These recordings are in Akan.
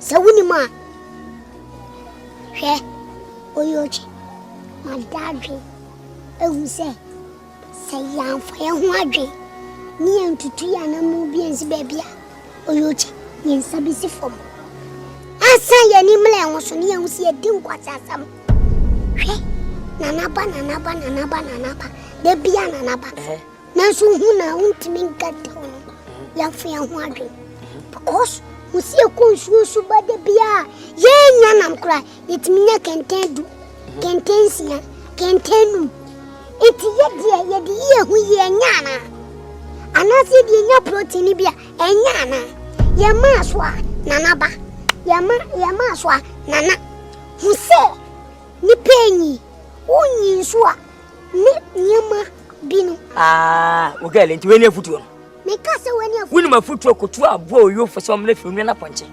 Sɛ wonim a, hwɛ, oyi otwe ma dadwen ehu sɛ sɛ yɛamfa yɛn ho adwen ne yɛntutu yɛn anammɔn bi ansi baabi a oyi otwe yɛn nsa besi fam ansa yɛn ani mmla yɛn ho so ne yɛahu sɛ yɛdi nkwaseasɛm. Hwɛ, nanaba, nanaba, nanaba, nanaba, da bia nanaba. Nanso hu na wontumi nka ntam no, yɛafa yɛn ho adwene. Because ho si ɛkɔ nsuo so ba da bi a yɛnya nam koraa yɛtumi nya kɛntɛn du kɛntɛn nsia kɛntɛn num nti yɛdeɛ yɛde yi ɛho yi ɛnya anaa anaasɛ yɛde yɛnya protein bi a ɛnya anaa yɛmaa so a nana ba yɛma yɛmaa so a nana ho sɛ nipa enyi wonyi nso a ne nneɛma bi no. Aa, wo girl, nti wei ne afutuo no? Meka sɛ wei ne afutuo. Wonim afutuo kotu aboa oyofo sɛ ɔmena fi onua no apɔnkye.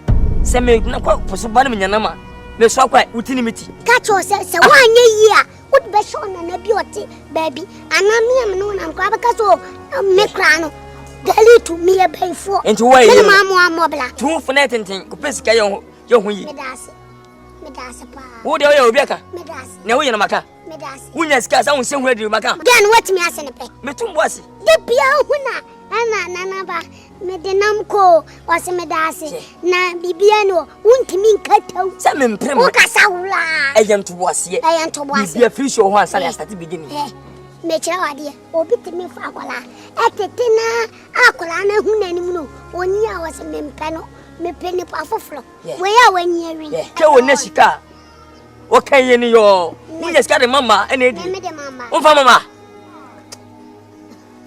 Sɛ megyina kɔ po so ba no menya nam a, mesoa kɔ a, woti ne me ti. Ka kyerɛ sɛ sɛ woanyɛ yie a, wode bɛhyɛ ɔnana bi ɔte baabi. Anaa me a me ne wo nam koraa bɛka sɛ me koraa no dali to meyɛ bɛyifoɔ. Nti woayɛ yie no? Mene maamoa mmɔbla. Tu wo fo na ɛtenten, kɔpɛ sika yɛ ho yie. Meda ase, meda ase paa. Wo deɛ woyɛ obi aka? Meda ase. Nea woyɛ no maka. wonya sika sɛ wonsɛ hu adiri maka dɛn no woatumi ase ne pɛ metom bo ase da bia hu na ɛna nanaba mede nam koo ɔse meda ase na biribia ne ɔ wontumi nkataw sɛ mempere mu wokasa woraa ɛyɛ ntoboaseɛ ɛyɛ ntoboaseɛ biribia firi hyɛ wɔ hɔ ansa ne asate bɛdi ne mekyerɛ wo adeɛ obi tumi fa akwadaa ɛtete na akwadaa no ahu n'anim no ɔni a ɔse mempɛ no mepɛ nipa foforɔ wei a wanyi awi hwɛ wɔ nɛ sika a Ɔka yɛ ni yɔ. Wonya sika de ma ma ɛna edi. Womfa ma ma.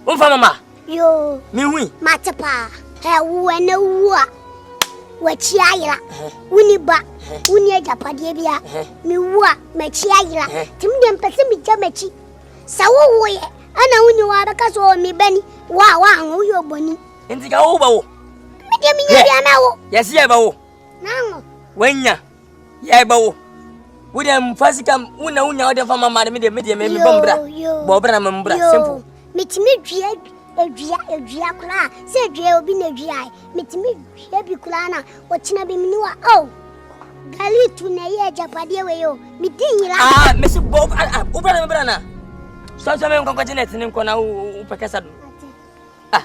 Womfa ma ma. Yoo. Mehui. Mate paa. Ɛ wo ɛna wu a. W'akyi ayera. Woni ba. Woni agyapadeɛ bia. Mewu a m'akyi ayera. Timi deɛ mpɛ sɛ megya m'akyi. Sɛ wowoeɛ ɛna woni hɔ abɛka sɛ ɔ me ba ni. Wo a woanwo woyɛ ɔbɔni. Nti ka wo ba wo. Medeɛ menya bia mɛwo. Yɛse yɛbɛwo. Nanwo. Wanya. Yɛɛ bɛ wo. Wo deɛ mfa sika wo na wonya wode mfa ma mma de me deɛ me deɛ me me bɔ mbra. Bɔ bra me mbra simple. Metimi dua adua adua koraa sɛ adua obi na adua ai. Metimi dua bi koraa na ɔkyena bi mini wa oh. Gali tu na yɛ agyapadeɛ wei o. Medi nyira. Ah, mesi bɔ wo bra me bra na. Sɔnsɔn me nkɔnkɔ gye na ɛtene nkɔ na wo pɛkɛsa do. Ah.